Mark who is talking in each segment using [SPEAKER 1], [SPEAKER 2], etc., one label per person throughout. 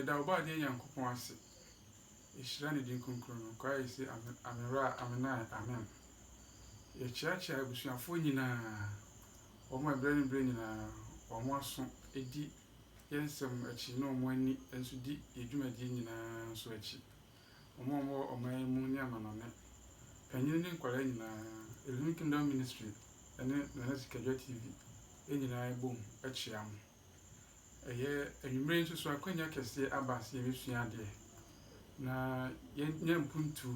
[SPEAKER 1] yɛda ɔbɔ adeɛ nyankopɔn ase ɛhyira ne din kronkron no kwa yɛ se amewura amenae amen yɛkyeakyea abusuafoɔ nyinaa wɔn ɛberɛ ne berɛ nyinaa wɔn aso di yɛ nsɛm akyi na wɔn ani nso di yɛn dwumadie nyinaa nso akyi. Wɔn a wɔwɔ ɔman yi mu ne amanɔne, panyini ne nkwadaa nyinaa, Elohim Kingdom Ministry ne Nana Sikadwa TV nyinaa bom kyea mo. Ɛyɛ anwummerɛ yi nso so akwanya kɛseɛ aba sɛ yɛbɛsua adeɛ na yɛnya mpuntuo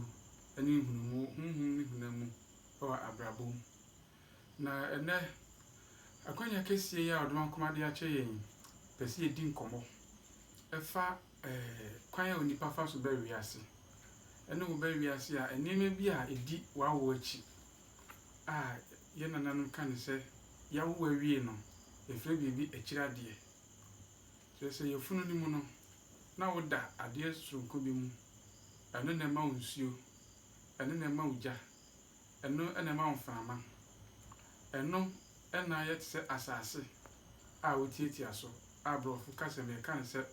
[SPEAKER 1] ne nhunumu honhom ne honam mu wɔ abrabɔ mu. Na ɛnnɛ, akwanya kɛseɛ yi a ɔdoma nko ma de akyɛ yɛn yi, pɛ sɛ yɛdi nkɔmmɔ fa kwan a onipa fa so ba wiase, ne wo ba wiase a nneɛma bi a ɛdi w'awo akyi a yɛn nananom ka no sɛ yɛawo awie no, yɛfrɛ biribi akyiri adeɛ. Kyerɛ sɛ yafunu no mu no, na woda adeɛ soronko bi mu, ɛno na ɛma wo nsuo, ɛno na ɛma wo gya. Ɛno na ɛma mframa. Ɛno na ayɛ te sɛ asase a wotiatia so a Borɔfo kasa mu yɛka no sɛ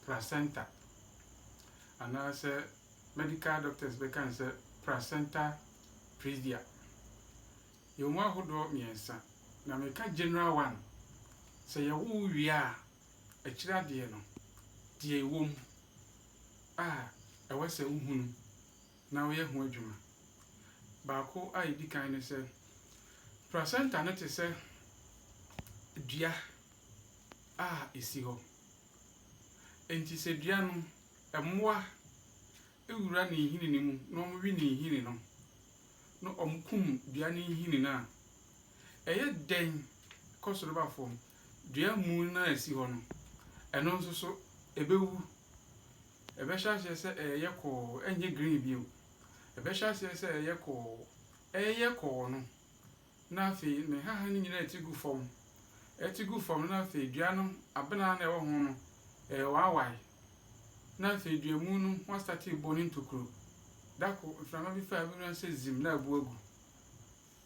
[SPEAKER 1] placenta, anaasɛ medical doctors bɛka no sɛ placenta previa. Yɛwɔ mu ahodoɔ mmiɛnsa, na meka general one, sɛ yɛwo wo wie a, akyire adeɛ no, deɛ ɛwɔ mu a ɛwɔ sɛ wohunu. na woyɛ ho adwuma. Baako a edi kan ne sɛ, placenta no te sɛ dua a esi hɔ. Enti sɛ dua no, mmoa wura ne nhini no mu na wɔwe ne nhini no, na wɔkum dua no nhini no a, ɛyɛ dɛn kɔ soro ba fam? Dua muu no a esi hɔ no, ɛno nso so ebewu. Ɛbɛhyɛ aseɛ sɛ ɛreyɛ kɔɔ, ɛrenyɛ green bio. Ɛbɛhyɛ aseɛ sɛ ɛreyɛ kɔɔ, ɛreyɛ kɔɔ no, na afei ne nhahan no nyinaa retu gu fam. Ɛretu gu fam no, na afei dua no, abena no a ɛwɔ ho no, ɛrewaawae. Na afei duamu no ho astate rebɔ ne ntokuro. Da koro, mframa bi fa a, wobɛhunu ara sɛ zim na abu agu.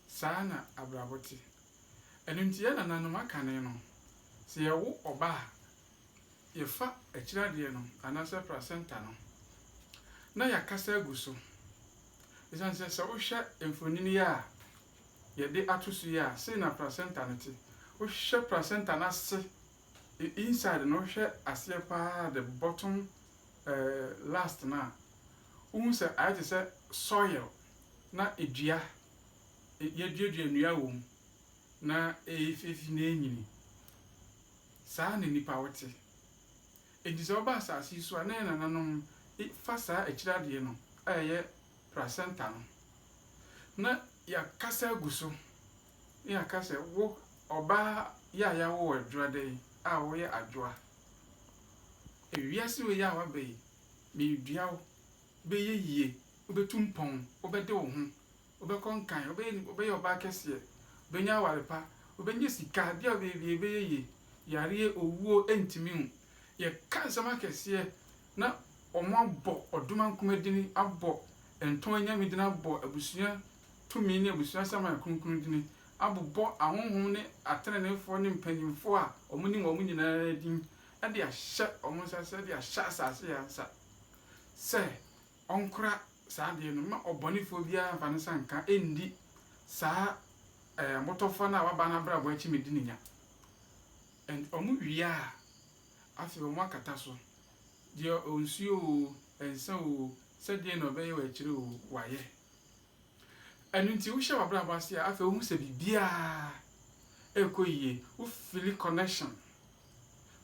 [SPEAKER 1] Saa na abrabɔ te. Ɛno nti, yɛn nananom akane no, sɛ yɛwo ɔba a, yɛfa akyiradeɛ no anaasɛ placenta no na yɛakasa agu so. Ɛsiane sɛ sɛ wohwɛ mfonini yi a yɛde ato so yi a, sei na placenta no te. Wohwɛ placenta no ase, inside no, wohwɛ aseɛ paa, the bottom eh, last no a, wohu sɛ ayɛ te sɛ soil na edua, yɛaduadua nnua wɔ mu na ɛyɛ fiefi na ɛnyini. Saa na nnipa wo te. Enti sɛ woba asase yi so a, na yɛn nananom fa saa akyiri adeɛ no a ɛyɛ placenta no, na yɛakasa agu so, na yɛaka sɛ, Wo, ɔbaa yi a yɛawo wo adwoada yi, a woyɛ adwoa, wiase wei yi a woaba yi, meredua wo, wobɛyɛ yie, wobɛtu mpɔn, wobɛde wo ho, Wobɛkɔ nkan, wobɛyɛ nipa, wobɛyɛ ɔbaa kɛseɛ, wobɛnya aware pa, wobɛnya sika, bia wobɛyɛ bia ɛbɛyɛ yie, yareɛ, owuo, ɛntumi wo. Yɛka nsɛm akɛseɛ na wɔn abɔ ɔdoma nkuma dini, abɔ ntɔn anyame dini, abɔ abusua tumi ne abusua saman kronkron dini, abobɔ ahonhom ne ateneneefoɔ ne mpanyinfoɔ a wɔn nim wɔn nyinaa din de ahyɛ wɔn nsa sɛ de ahyɛ asase yɛ nsa sɛ ɔnkora saa adeɛ no, mma ɔbɔnefoɔ biara mfa ne nsa nka nndi saa ɛɛ motɔfowa no a waba n'abrabɔ akyi mmɛdi ne nya. And wɔn wie a, afei wɔn akata so. Deɛ ɔnsuo oo, ɛnsa oo, sɛdeɛ na ɔbɛyɛ wɔ akyire oo, wayɛ. Ɛno nti, wohyɛ w'abrabɔ ase a, afei wohu sɛ biribiara rekɔ yie. Wo fili connection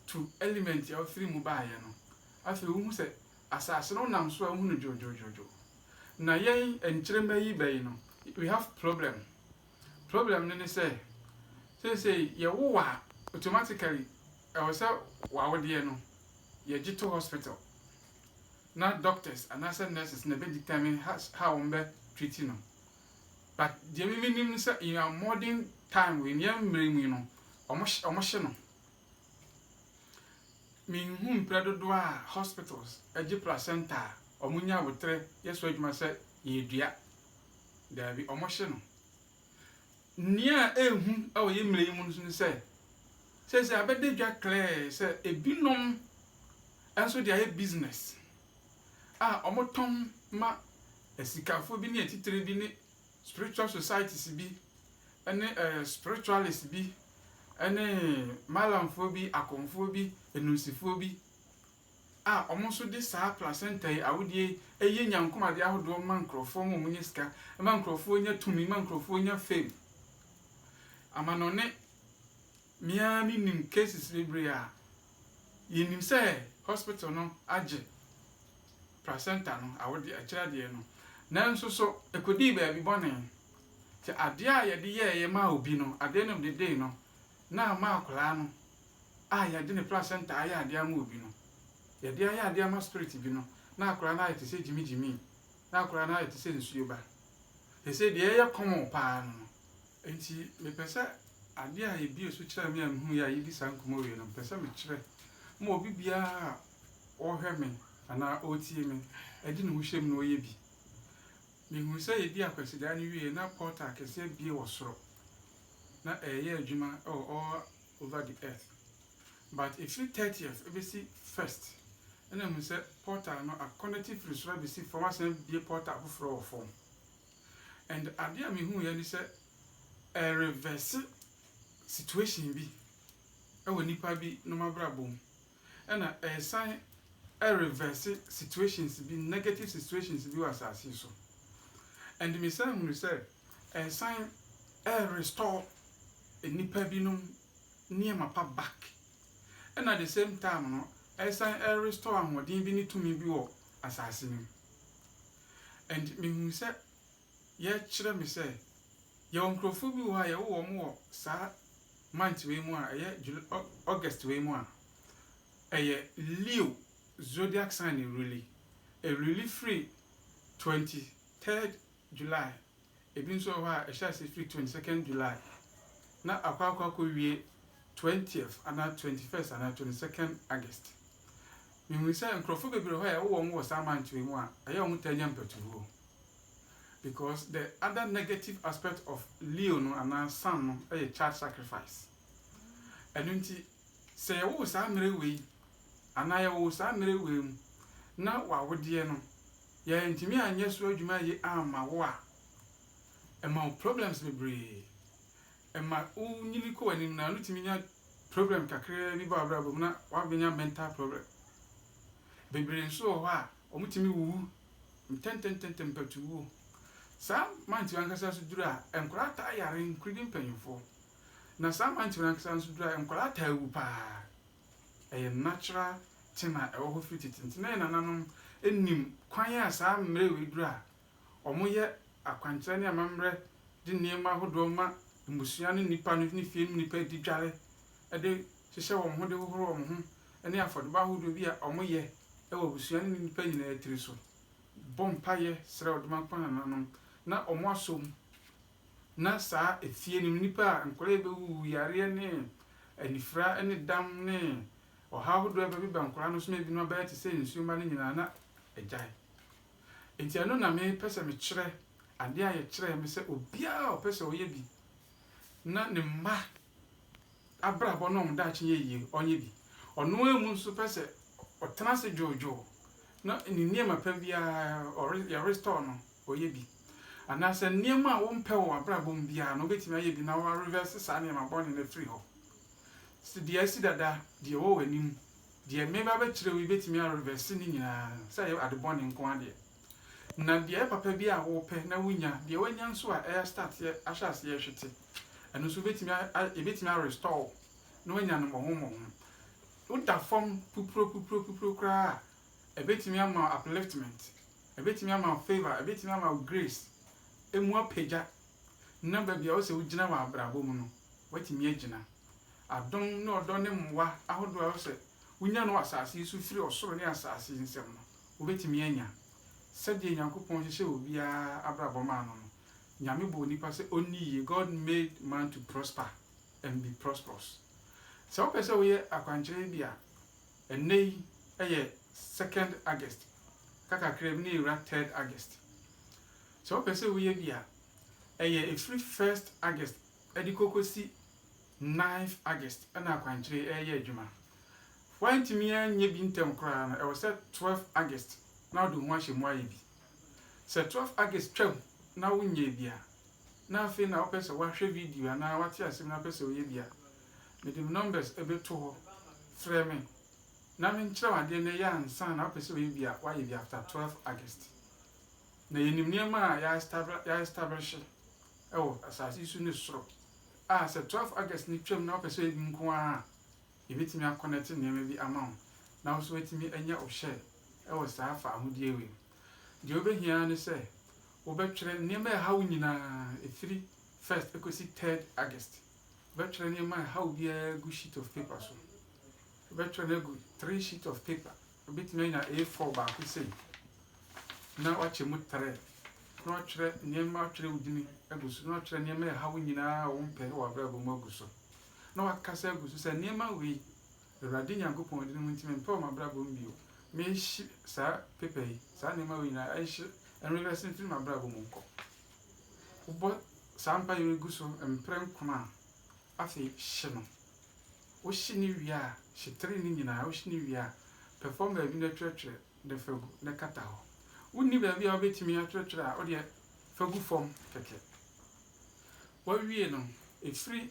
[SPEAKER 1] to element a wofiri mu baeɛ no. Afei wohu sɛ asase no wonam so a wohu no dwodwodwodwo. Na yɛn nkyiremma yi bɛ yi no, we have problem. Problem no ne sɛ, seesei yɛwo a, automatically ɛwɔ sɛ w'awodeɛ no yɛgye to hospital. na doctors anaasɛ nurses na ɛbɛ determine ha how wɔn bɛ treat no but deɛ mimi nim no sɛ in our modern time wɔ yɛn mmerɛ mu yi no wɔn hye wɔn hye no menhu mprɛ dodoɔ a hospitals agye placenta a wɔn nya abotere yɛ so adwuma sɛ yɛdua daabi wɔn hye no Nea ɛyɛ hu wɔ yɛn mmerɛ yi mu nso ne sɛ, seesei abɛda edwa klɛɛ sɛ ebinom nso de ayɛ business a wɔtɔn ma asikafoɔ bi ne atitire bi ne spiritual societies bi ne spiritualists bi ne Malamfoɔ bi, Akonfoɔ bi, Enunsifoɔ bi. a wɔn nso de saa placenta yi, awodeɛ yi, yɛ nyankomadeɛ ahodoɔ ma nkorɔfoɔ ma wɔnya sika, ma nkorɔfoɔ nya tumi, ma nkorɔfoɔ nya fame. Amanɔne, me ara me nim cases bebree a yɛnim sɛ hospital no agye placenta no, awodeɛ, akyire adeɛ no, nanso so ɛkɔdii baabi bɔne, sɛ adeɛ a yɛde yɛɛyɛ maa obi no, adeɛ no dedee no, na ama akwadaa no a yɛde ne placenta ayɛ ade ama obi no, yɛde ayɛ ade ama spirit bi no, na akwadaa no ayɛ te sɛ gyimigyimii, na akwadaa no ayɛ te sɛ nsuo ba. Seesei deɛ ɛyɛ common pa ara no no. Enti mepɛ sɛ adeɛ a ɛbue so kyerɛɛ me a mehuiɛ a yɛdi saa nkɔmmɔ wie no, mepɛ sɛ mekyerɛ ma obi biara a ɔrehwɛ me anaa ɔretie me de ne ho hyɛ mu na ɔyɛ bi. Mehuu sɛ yɛdi Akwasidaa no wieeɛ na portal kɛseɛ abue wɔ soro, na ɛreyɛ adwuma wɔ all over the earth but ɛfiri thirtieth ɛbɛsi first ɛna ɛmu sɛ portal no a connect firi soro abɛsi fam asan bie portal foforɔ wɔ fam and adeɛ a mehuuɛ ne sɛ ɛreverse situation bi ɛwɔ nipa bi nom abrabɔ mu. Ɛna ɛresan reverse situations bi, negative situations bi wɔ asase yi so. And mesan hunu sɛ ɛresan restore nnipa binom nneɛma pa back. Ɛna the same time no, ɛresan restore ahoɔden bi ne tumi bi wɔ asase no mu. And mehunu sɛ yɛkyerɛ me sɛ yɛwɔ nkurɔfoɔ bi wɔ hɔ a yɛwo wɔn wɔ saa month wei mu a ɛyɛ July August wei mu a ɛyɛ Leo zodiac sign na ɛruli ɛruli firi twenty third July ebi nso wɔ hɔ a ɛhyɛ ase firi twenty second July na akɔ akɔ akɔ wie twentieth anaa twenty first anaa twenty second August mehu sɛ nkurɔfoɔ bebree hɔ a yɛwo wɔn wɔ saa month wei mu a ɛyɛ wɔn taa nya mpatuwuo. because the other negative aspect of Leo no anaa Sam no yɛ child sacrifice. Ɛno nti sɛ yɛwo wo saa mmerɛ wei anaa yɛwo wo saa mmerɛ wei mu na w'awodeɛ no yɛantumi anyɛ so adwuma yie amma wo a, ɛma wo problems bebree. Ɛma wo nyini kɔ w'anim no a, no tumi nya problem kakraa bi ba w'abrabɔ mu na w'abɛnya mental problem. Bebree nso wɔ hɔ a, Wɔtumi wuwu ntɛntɛntɛntɛ mpatuwuo. Saa mantwi ankasa nso duru a, nkwadaa taa yare nkoredi mpanimfoɔ. Na saa mantwi no ankasa nso duru a, nkwadaa taa wu pa ara. Ɛyɛ natural thing a ɛwɔ hɔ firi tete nti na yɛn nananom nim kwan a saa mmerɛ wei duru a, Wɔyɛ akwankyerɛ ne amammerɛ de nneɛma ahodoɔ ma mmusua ne nnipa no ne fie mu nnipa di dware de hyehyɛ wɔn ho de hohoro wɔn ho ne afɔrebɔ ahodoɔ bi a wɔyɛ wɔ abusua no ne nnipa nyinaa tiri so bɔ mpaeɛ srɛ Odomankpɔn nananom na wɔasom na saa efie no mu nnipa a nkwadaa yi bɛwuwu yareɛ ne anifira ne dam ne ɔhaw ahodoɔ a ɛbɛbeba nkwadaa no so ma ebinom abɛyɛ te sɛ nsuomma no nyinaa na agyae. Enti ɛno na mepɛ sɛ mekyerɛ, adeɛ a yɛkyerɛɛ me sɛ obiara a ɔpɛ sɛ ɔyɛ bi na ne mma abrabɔ ne wɔn daakye yɛ yie, ɔnyɛ bi. Ɔno ara mu nso pɛ sɛ ɔtena ase dwoodwoo na ne nneɛma pa biara ɔre, yɛrestɔɔ no, ɔyɛ bi. Anaasɛ nneɛma a wompɛ wɔ w'abrabɔ mu biara no, wobɛtumi ayɛ bi na woarevɛse saa nneɛma bɔne no afiri hɔ. Sɛdeɛ asi dada, deɛ ɛwɔ w'anim Deɛ mereba abɛkyerɛ wo yi bɛtumi a reverse ne nyinaa, sɛ ɛyɛ ade bɔne nko ara deɛ. Na deɛ ɛyɛ papa bi a wopɛ na wonnya, deɛ wanya nso a ɛyɛ start yɛ, ahyɛ aseɛ ɛhwete, ɛno nso wobɛtumi a, a, yɛbɛtumi a restore wo na wanya no mmɔho mmɔho. Woda fam pupuro pupuro pupuro koraa a, ɛbɛtumi ama wo upliftment, ɛbɛtumi ama wo favour, ɛbɛtumi ama wo grace, ɛmu apagya na baabi a ɔsɛ wogyina wɔ abrabɔ mu no, woatumi agyina. Adom ne ɔdɔ ne mmoa ahodoɔ a ɔsɛ wonya no wɔ asase yi so firi ɔsoro ne asase nsɛm no, wobɛtumi anya. Sɛdeɛ Nyankopɔn hyehyɛɛ obiara abrabɔ maa no no, Nyame bɔɔ nipa sɛ ɔnni yie, God made man to prosper and be prosperous. Sɛ wopɛ sɛ woyɛ akwankyerɛ bi a, ɛnnɛ yi yɛ second August, aka kakra bi na yɛwura third August. Sɛ wopɛ sɛ woyɛ bi a, ɛyɛ ɛfiri first August de kɔ kɔsi ninth August na akwankyerɛ yi reyɛ adwuma. Woantumi anyɛ bi ntɛm koraa no, ɛwɔ sɛ twelve August na wode wo ho ahyɛ mu ayɛ bi. Sɛ twelve August twam na wonyɛɛ bi a, na afei na wopɛ sɛ woahwɛ video anaa woate asɛm na wopɛ sɛ woyɛ bi a, mede me numbers bɛto hɔ, frɛ me na menkyerɛ wo adeɛ na yɛ ansa na wopɛ sɛ woyɛ bi a, woayɛ bi after twelve August. Na yenim nneɛma a yɛaestablehye wɔ asase yi so ne soro a sɛ 12 August no twam na wopɛ sɛ ɔyɛ bi nko ara a, yebetumi akɔnɛte nneɛma bi ama wo na wo nso woatumi anya wo share wɔ saa faahodie wei mu. Deɛ wobɛhia ara ne sɛ wobɛtwerɛ nneɛma a ɛha wo nyinaa ɛfiri first kɔsi third August. Wobɛtwerɛ nneɛma a ɛha wo biara agu sheet of paper so. Wobɛtwerɛ no agu three sheet of paper. Obetumi anya A4 baako sei na wakyɛ mu trɛ na watwerɛ nneɛma, watwerɛ wo din agu so, na watwerɛ nneɛma a ɛha wo nyinaa a wompɛ wɔ w'abrabɔ mu agu so, na wakasa agu so sɛ nneɛma wei, Awurade Nyankopɔn din mu nti, mempɛ wɔ m'abrabɔ mu bio. Mehye saa pepa yi, saa nneɛma wei nyinaa, ɛnhye, ɛnwewɛse mfiri m'abrabɔ mu nkɔ. Wobɔ saa mpaeɛ wei gu so mprɛnkron a, Afei hye no. Wohye no wie a, hye tray no nyinaa. Wohye no wie a, pɛfam baabi na twerɛtwerɛ de fa gu na kata hɔ. Wonni baabi a wobɛtumi atwerɛtwerɛ a, wodeɛ fa gu fam kɛkɛ. Woawie no, ɛfiri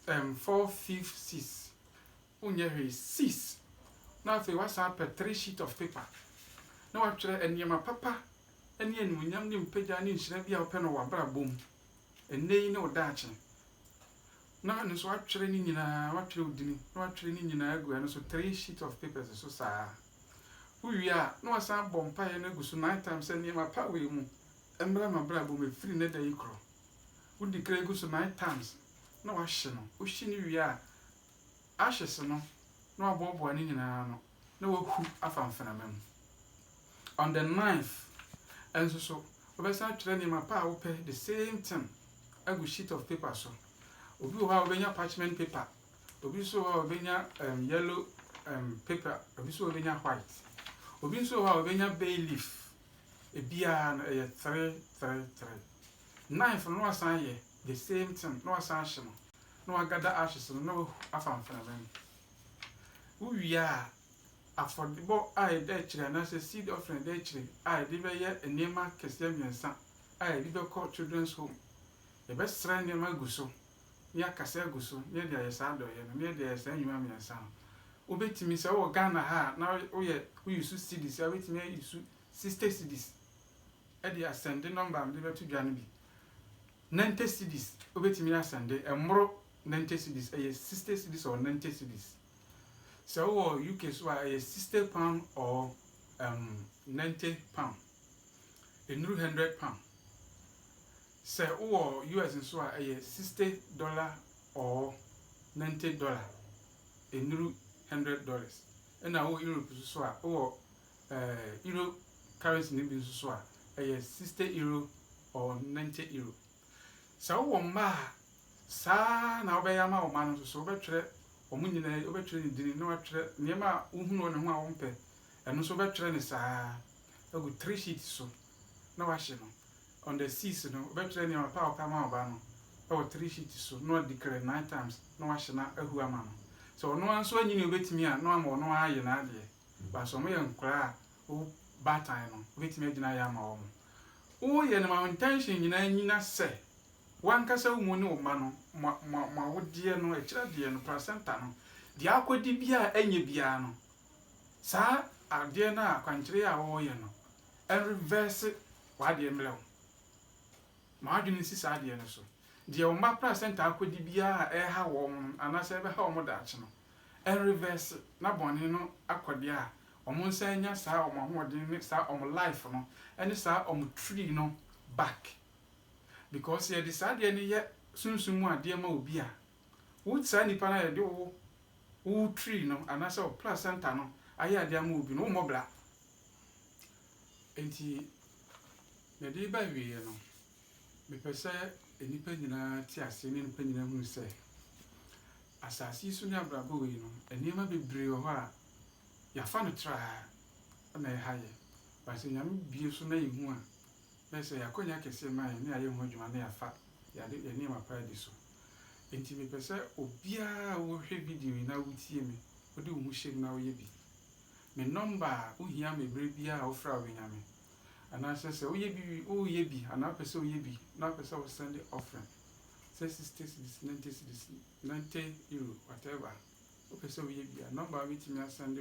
[SPEAKER 1] ɛm four fifth sis Wonyɛ hwee sis. Na afei woasan apɛ three sheet of paper na woatwerɛ nneɛma papa ne animuonyam ne mpagya ne nhyira bi a wopɛ no wɔ w'abrabɔ mu ɛnnɛ yi ne wo daakye. Na ɛno nso woatwerɛ ne nyinaa, woatwerɛ wo dini na woatwerɛ ne nyinaa agu ɛno so three sheet of papers so saa. Wowie a na woasan abɔ mpaeɛ no agu so nine times sɛ nneɛma pa wei mu mmra m'abrabɔ mu ɛfiri nnɛ da yi korɔ. Wo declare gu so nine times na woahye no. Wohye no wie a ahwese no na waboaboa ne nyinaa ano na wahu afa mfenama mu. On the ninth nso so, wobɛsan atwerɛ nneɛma pa a wopɛ, the same thing, agu sheet of paper so. Obi wɔ hɔ a wobɛnya parchment paper, obi nso wɔ hɔ a wobɛnya um, yellow um, paper, obi nso wobɛnya white, obi nso wɔ hɔ a wobɛnya bay leaf. Ebiara no ɛyɛ three three three. Ninth no na wasan ayɛ the same thing na wasan ahye no. na wɔaka da ashes no na wɔahu afa mframa mu. Wowie a, afɔrebɔ a ɛda akyire anaasɛ seed offering a ɛda akyire a yɛde bɛyɛ nneɛma akɛseɛ mmiɛnsa a yɛde bɛkɔ children's home. Yɛbɛsra nneɛma agu so, na yɛakasa agu so, na yɛde ayɛ saa adɔeɛ no, na yɛde ayɛ saa nnwuma mmiɛnsa no. Wobɛtumi, sɛ wowɔ Ghana ha a, na woyɛ wo use cedis a, wobɛtumi a use sixty cedis de asɛnde nɔmba a mede bɛto dwa no bi. Ninety cedis wobɛtumi asɛnde ɛmmoro ninety cedis ɛyɛ sixty cedis or ninety cedis sɛ wowɔ UK so a ɛyɛ sixty pound or um, ninety pound ɛnnuru hundred pound sɛ wowɔ US nso a ɛyɛ sixty dollar or ninety dollar ɛnnuru hundred dollars ɛna wowɔ Europe nso so a wowɔ eh, euro currency no bi nso so a, ɛyɛ 60 euro or 90 euro. Sɛ wowɔ mma a, saa na wobɛyɛ ama wo mma no nso so. Wobɛtwerɛ wɔn nyinaa, wobɛtwerɛ ne din na watwerɛ nneɛma a wohunu wɔ ne ho a wompɛ. Ɛno nso wobɛtwerɛ ne saa agu three sheets so na wahye no. On the six no, wobɛtwerɛ nneɛma pa a wopɛ ama wo ba no wɔ three sheets so na wadi kere nine times na wahye na ahu ama no. Sɛ ɔno ara nso anyini a obɛtumi a, na wama ɔno ara ayɛ n'adeɛ. Because wɔyɛ nkwadaa a wo baatan no bɛtumi agyina yɛ ama wɔn. Woyɛ no ma wo intention nyinaa nnyina sɛ w'ankasa wo mu ne wo mma no mo mo mo awodeɛ no akyiri adeɛ no placenta no deɛ akɔdi biara ɛnyɛ biara no saa adeɛ no a akwankyerɛ yi a wɔreyɛ no ɛnreverse w'adeɛ mmerɛ wo ma w'adwene nsi saa adeɛ no so deɛ wo mma placenta akɔdi biara a ɛreha wɔn no anaasɛ ɛbɛha wɔn daakye no Ɛn reverse na bɔne no akɔ deɛ a ɔmo nsa anya saa ɔmo ahoɔden ne saa ɔmo life no ɛne saa ɔmo tree no back because sɛ yɛde saa adeɛ no yɛ sunsum mu adeɛ ma obi a wo saa nipa no a yɛde wo wo tree no anaasɛ wo placenta no ayɛ adeɛ ama obi no wo mmɔ bra enti mede ba awieɛ no. Mepɛ sɛ nnipa nyinaa te aseɛ ne nnipa nyinaa hunu sɛ, asase yi so ne abrabɔ wei no, nneɛma bebree wɔ hɔ a, yɛafa no traa na ɛha yɛn. But sɛ Nyame bue so na yɛhu a, bɛyɛ sɛ ɛyɛ akwanya kɛseɛ ma yɛn na yɛayɛ ho adwuma na yɛafa yɛade, yɛn nneɛma pa adi so. Enti mepɛ sɛ obiara a wohwɛ video yi na wotie me, wode wo ho hyɛ mu na woyɛ bi. Me nɔmba a, wohia me berɛ biara a wofrɛ a wobɛnya me. anaasɛ sɛ woyɛ bi wie woyɛ bi anaa wopɛ sɛ woyɛ bi na wopɛ sɛ wo send offering sɛ sixty cedis ninety cedis ninety euro whatever wopɛ sɛ woyɛ bi a number a wobɛtumi asend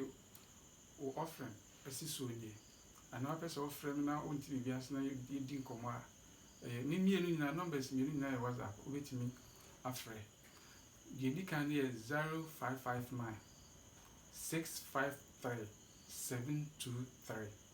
[SPEAKER 1] wo offering asi soɔ nie anaa wopɛ sɛ wofrɛ me na wonte biribi ase na yɛdi nkɔmmɔ a ɛyɛ ne mmienu nyinaa numbers mmienu nyinaa yɛ whatsapp wobɛtumi afrɛ deɛ ɛdi kan no yɛ zero five five nine six five three seven two three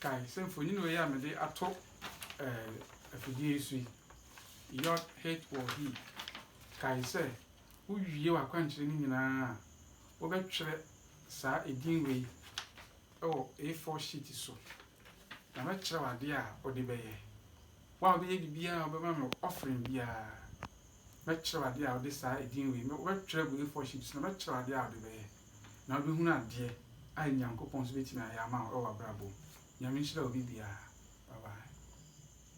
[SPEAKER 1] Kae sɛ mfonini wei a mede ato afidie yi so yi, Yod He Wɔ Hi, kae sɛ wowie w'akwankyerɛ no nyinaa a, wobɛtwerɛ saa edin wei wɔ A4 sheet so, na mɛkyerɛ wo adeɛ a wode bɛyɛ. Wo a wobɛyɛ biribiara a wobɛma me offering biara, mɛkyerɛ wo adeɛ a wode saa edin wei, wobɛtwerɛ agu A4 sheet so na mɛkyerɛ wo adeɛ a wode bɛyɛ. na wobɛhunu adeɛ a Nyankopɔn nso bɛtumi ayɛ ama wo wɔ w'abrabɔ mu. Nyame nhyira obi biara. Bye bye.